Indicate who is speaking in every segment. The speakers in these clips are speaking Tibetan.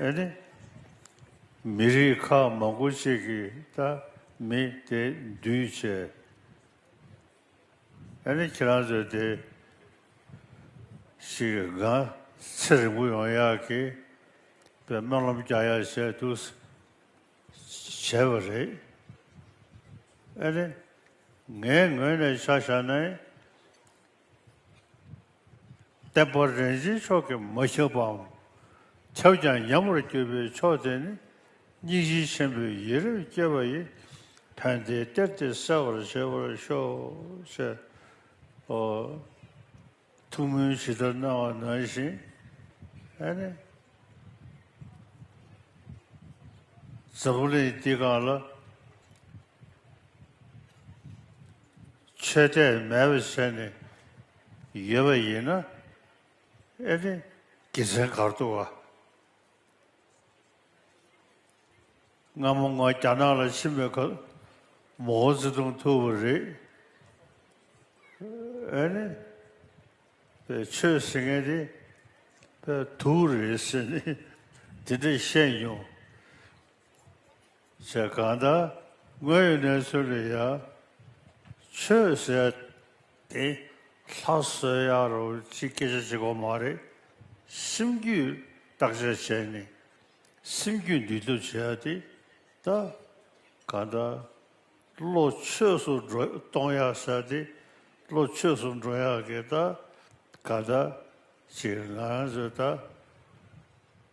Speaker 1: ཨེ་ནི། མི་རིགས་ཁག་མང་པོ་གཅིག་གིས་ད་མི་དེ་འདུས་བྱས། ཨེ་ནི་ཁྱེད་རང་ཚོས་དེ་ཞིག་སྒང་ཚེ་རིང་པོ་ཡོང་ཡག་གི་པའི་སྨོན་ལམ་རྒྱག་ཡག་བྱས་འདུག་བྱས་པ་རེད། ཨེ་ནི། ངའི་ངོས་ནས་ཆ་བཞག་ནའི་བསྟན་པ་རིན་ཆེན་མཆོག་གིས་མ་བཤིག་པའམ་ཁྱབ་ཀྱང་ཉམས་པར་གྱུར་པའི་མཆོག་དེ་ནི་སྙིང་རྗེ་ཆེན་པོའི་ཡིད་རབ་བསྐྱེད་པ་ཡི་དོན་དེའི་གཏེར་དེ་གསལ་བར་བྱེད་པར་ཤོག། ཐུགས་སྨོན་ཇི་ལྟར་གནང་བ་ནང་བཞིན་ནི། འཛམ་བུ་གླིང་འདི་གང་ལ། ཆོས་དད་མེད་པར་བྱས་ནས་ཡོད་པ་ཡིན་ན་ཨེ་རེད། དགེ་མཚན་གར་འདུག་བ། སྔ་མོ་ང་རྒྱ་ནག་ལ་ཕྱིན་པའི་སྐབས་མོ་ཧོ་ཙི་ཏུང་ཐུག་པ་རེད། ཨེ་ནི། བའི་ཆོས་ཟེར་མཁན་དེ་བའི་དུག་རེད་ཟེར་ནས་དེ་འདྲས་བཤད་མྱོང། བྱས་གང་དག་དངོས་ཡོད་གནས་ཚུལ་ལ་ཡང། ཆོས་ཟེར་དེ་ལྷ་གསོལ་ཡག་རོ་ཅི་སྐད་ཆ་གཅིག་གོ་མ་རེད། སེམས་རྒྱུད་བརྟག་དཔྱད་བྱས་ནས་སེམས་རྒྱུད་འདུལ་ཐབས་བྱས་ཡག་དེ་ད། གང་དག་བློ་ཆོས་སུ་འགྲོ་གཏོང་ཡག་ཟེར་དེ་བློ་ཆོས་སུ་འགྲོ་ཡག་གི་ད། གང་དག་ཅིག་ང་ཚོས་ད།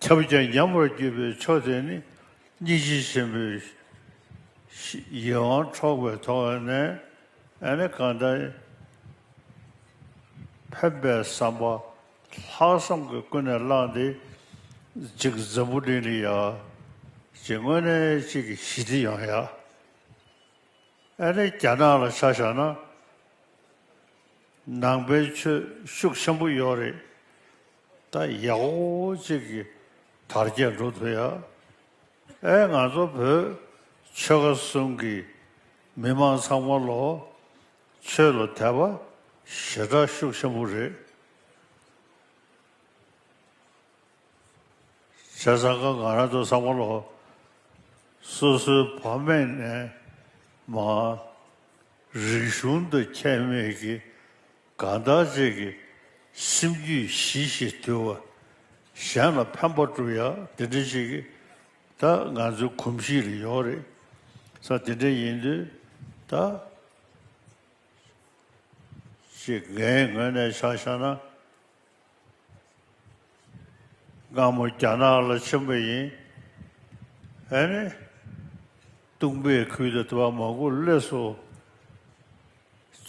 Speaker 1: ཁྱབ་བྱ་ཉམས་པར་གྱུར་པའི་མཆོག་དེ་ནི་སྙིང་རྗེ་ཆེན་པོའི་ཡིད་དབང་འཕྲོག་པའི་ཐོག་ནས་ནི་གང་ལྟར་ཕན་པའི་བསམ་པ་ལྷག་བསམ་གྱིས་ཀུན་ནས་བསླངས་ཏེ་གཅིག་འཛམ་བུ་གླིང་ལ་ཡང་གཅིག་དངོས་གནས་གཅིག་གི་ཞི་བདེ་ཡོང་ཡ། ཨ་ནི་རྒྱ་ནག་ལ་ཆ་བཞག་ན་ནང་པའི་ཆོས་ཤུགས་ཆེན་པོ་ཡོད་རེད། ད་ཡག་པོ་གཅིག་གི་དར་རྒྱས་འགྲོ་ཐུབ་ཡ། ཨའི་ང་ཚོ་བོད་ཆོལ་ཁ་གསུམ་གི་མི་མང་ཚང་མ་ལོ་ཆོས་ལ་དད་པ་ཞེ་དྲག་ཤུགས་ཆེན་པོ་རེད། བྱས་ཙང་ཁ་ང་རང་ཚོ་ཚང་མ་ལོ་སོ་སོའི་བ་མེད་ནས་མ། རིག་གཞུང་དང་ཁྱད་མེད་ཀྱི་གང་དག་རྗེས་ཀྱི་སེམས་རྒྱུད་ཞི་ཞེས་དུལ་བ། གཞན་ལ་ཕན་པ་བསྒྲུབ་ཡ་དེ་འདྲའི་ཞིག་གིས་ད་ང་ཚོའི་གོམས་གཤིས་ལ་ཡོང་རེད། ས་དེ་འདྲ་ཡིན་དུས་ད་ཅིག་ངའི་ངོས་ནས་བྱ་བཞག་ན། སྒ་མོ་རྒྱ་ནག་ལ་ཆེན་པོ་ཡིན། ཨེ་ནི། ཏུང་པའི་ཁུལ་དུ་དེ་བ་མ་གུ་ལེ་སོ།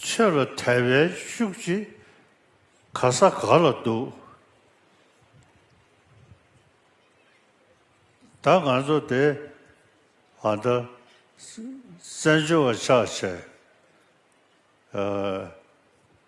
Speaker 1: ཆོས་ལ་དད་པའི་ཤུགས་ཀྱིས་ག་ས་ག་ལ་འདུག། ད་ང་ཚོ་དེ་ཨ་མདའ། བཙན་བྱོལ་བ་ཆགས་བྱས།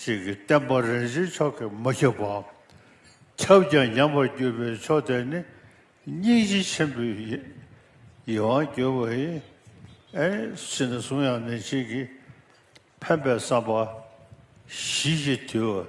Speaker 1: ཞིག་གིས་བསྟན་པ་རིན་ཆེན་མཆོག་གིས་མ་ཁྱབ་པའམ་ཁྱབ་ཀྱང་ཉམས་པར་གྱུར་པའི་མཆོག་དེ་ནི་སྙིང་རྗེ་ཆེན་པོའི་ཡིད་དབང་བསྒྱུར་བ་ཡིན། ཕྱིས་ན་གསུང་དབྱངས་ནི་གཅིག་གིས་ཕན་པའི་བསམ་པ་གཞི་ཞིག་དུལ་བ།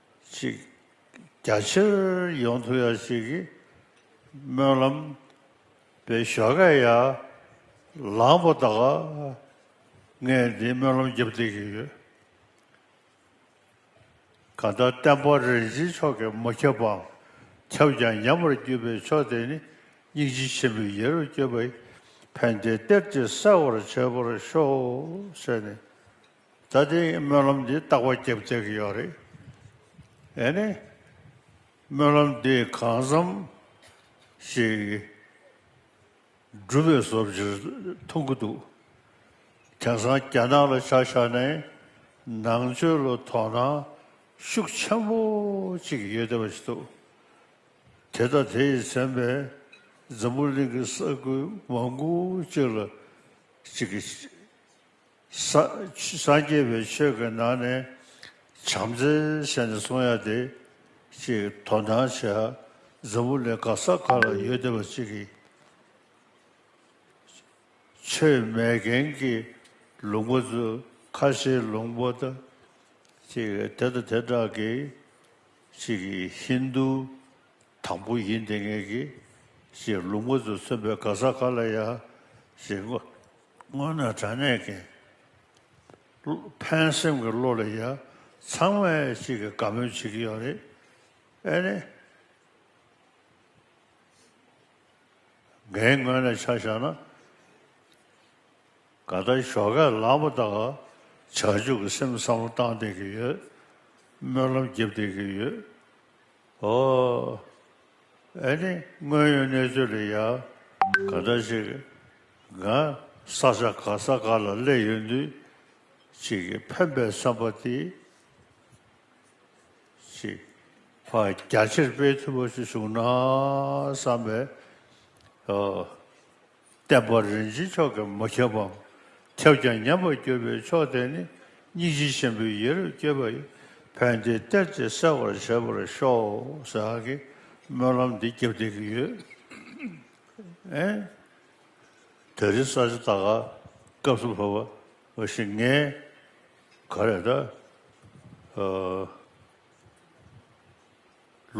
Speaker 1: ཅིག། རྒྱ་ཆེར་ཡོང་ཐུབ་ཡག་ཅིག་གི་སྨོན་ལམ། པའི་ཞོ་ཁས་ཡ། ལངས་པོ་ད་ག། ངས་འདི་སྨོན་ལམ་རྒྱབ་སྟེར་གྱི་ཡོད། ག་ད་བསྟན་པ་རིན་ཆེན་མཆོག་གིས་མ་ཁྱབ་པའམ་ཁྱབ་ཀྱང་ཉམས་པར་བརྒྱུད་པའི་ཕྱོགས་དེ་ནི་སྙིང་རྗེ་ཆེན་པོའི་ཡེ་རུ་བསྐྱོད་པའི་ཕན་བདེའི་གཏེར་གྱིས་གསལ་བར་བྱས་པར་ཤོག་ཟེར་ནས། ད་ལྟའི་སྨོན་ལམ་འདི་རྟག་པ་བརྒྱབ་བཅག་གི་ཡོད་རེད། ཨེ་ནས། སྨོན་ལམ་འདི་གང་བསམ་ཞིག་སྒྲུབ་པའི་བཟོ་བྱེད་མཐོང་གི་འདུག་དེང་སང་རྒྱ་ནག་ལ་ཆ་བཞག་ནས་ནང་ཆོས་ལ་དོ་སྣང་ཤུགས་ཆེན་པོ་ཅིག་ཡོད་བསྡད་པ་ཞིག་འདུག་དེ་ལྟ་དེ་ཡི་མཚན་པས་འཛམ་བུ་གླིང་གི་ས་ཁུལ་མང་པོ་ཅིག་ལ་ཅིག་སངས་རྒྱས་པའི་ཆོས་ཀྱི་ནང་ནས་བྱམས་བརྩེ་བཤད་ནས་གསུང་ཡ་དེ་གཅིག་དོ་སྣང་བྱེད་ཧ་འཛམ་བུ་ལས་ག་ས་ག་ལ་ཡོད་བདེ་བ་གཅིག་གི་ཆོས་མེད་མཁན་གྱི་ལུང་པ་ཚོས་ཁ་ཤས་ལུང་པ་དང་གཅིག་དེ་དང་དེ་དག་གིས་གཅིག་ཧིན་དུ་དང་པོ་ཡིན་དེ་ངེས་གི་གཅིག་ལུང་པ་ཚོས་མཚོན་པའི་ག་ས་ག་ལ་ཡ་གཅིག་སྔོན་ནས་དྲང་གནས་ཀྱི། ཕན་སེམས་ཀྱི་བློ་ལ་ཡ། ཚང་མས་གཅིག་གི་དགའ་མོས་བྱེད་ཀྱི་ཡོད་རེད། ཨེ་ནི། འགན་ངོས་ནས་ཆ་བཞག་ན། ག་ད་ཞོགས་ཁས་ལངས་པ་དག་བྱ་སྤྱོད་ཀྱི་སེམས་བསམ་བློ་བཏང་བསྡད་ཀྱི་ཡོད། སྨོན་ལམ་རྒྱབ་བསྡད་ཀྱི་ཡོད། ཨོ། ཨེ་ནི་དངོས་ཡོད་གནས་ཚུལ་ལ་ཡ། ག་འདྲ་ཞིག། ང། ས་ཆ་ག་ས་ག་ལ་སླེབས་ཡོད་འདུག། ཅིག་གིས་ཕན་པའི་བསམ་པ་དེ། ཅིག། བ་རྒྱ་ཆེར་སྤེལ་ཐུབ་པ་ཞིག་བྱུང་ན་བསམ་པས། ཨོ། བསྟན་པ་རིན་ཆེན་མཆོག་གིས་མ་ཁྱབ་བམ། ཁྱབ་ཀྱང་ཉམས་པར་གྱུར་པའི་མཆོག་དེ་ནི་སྙིང་རྗེ་ཆེན་པོའི་ཡེ་རབ་བསྐྱེད་པ་ཡི་བོན་དེ་གཏེར་གྱིས་གསལ་བར་བྱེད་པར་ཤོག་ཟེར་བ་གིས་སྨོན་ལམ་འདི་བརྒྱབ་བསྡད་ཀྱི་ཡོད། དེ་རིང་གསར་བརྗེ་ད་ག་སྐབས་སུ་བབས་པ་ཞིག་ངས་ག་རེ་ད་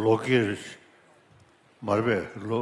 Speaker 1: ལོ་ཀེར་མར་པའི་ལོ་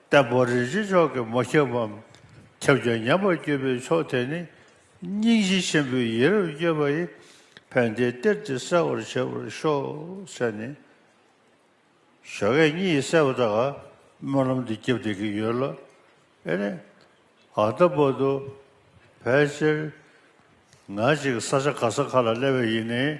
Speaker 1: ལྟ་བུ་རིན་ཆེན་མཆོག་གི་མོ་ཁྱབ་བམ། ཁྱབ་ཀྱང་ཉམས་པར་གྱུར་པའི་མཆོག་དེ་ནི། སྙིང་རྗེ་ཆེན་པོའི་ཡིད་རབ་བསྐྱོད་པ་ཡི། ཕན་བདེའི་གཏེར་དེ་གསལ་བར་བྱེད་པར་ཤོག། ཟེར་ནས། ཞོ་ཁལ་གཉིས་གསལ་བ་དག་སྨོན་ལམ་དུ་བརྒྱབ་སྟེ་གི་ཡོད་ལ། ཨེ་ནས། ཨ་ལྟ་བུ་དུ། ཕལ་ཆེར། ང་ཅིག་ས་ཆ་ག་ས་ག་ལ་སླེབས་པ་ཡིན་ནས།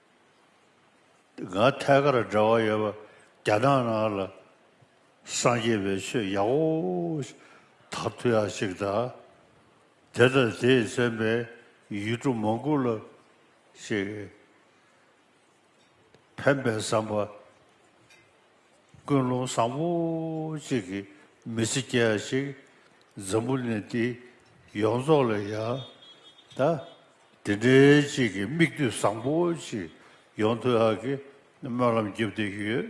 Speaker 1: འགའ་ཐད་ཀར་འབྲེལ་བ་ཡོད་པ་རྒྱ་ནག་ནང་ལ་སངས་རྒྱས་པའི་ཆོས་ཡག་པོ་དག་ཐུག་ཡག་ཅིག་གདའ། དེ་ལྟ་དེས་བཙན་པའི་ཡུལ་གྲུ་མང་པོ་ལ་ཞིག་ཕན་པའི་བསམ་པ། ཀུན་སློང་བཟང་པོ་གཅིག་གིས་མི་ཚེ་སྐྱེལ་ཡག་ཅིག་འཛམ་བུ་གླིང་འདི་ཡོངས་རྫོགས་ལ་ཡག་ད། དེ་འདྲའི་གཅིག་གིས་མིག་ལྟོས་བཟང་པོ་གཅིག་ཡོང་ཐུག་ཡག་གི་སྨོན་ལམ་རྒྱབ་བསྡད་ཡོད།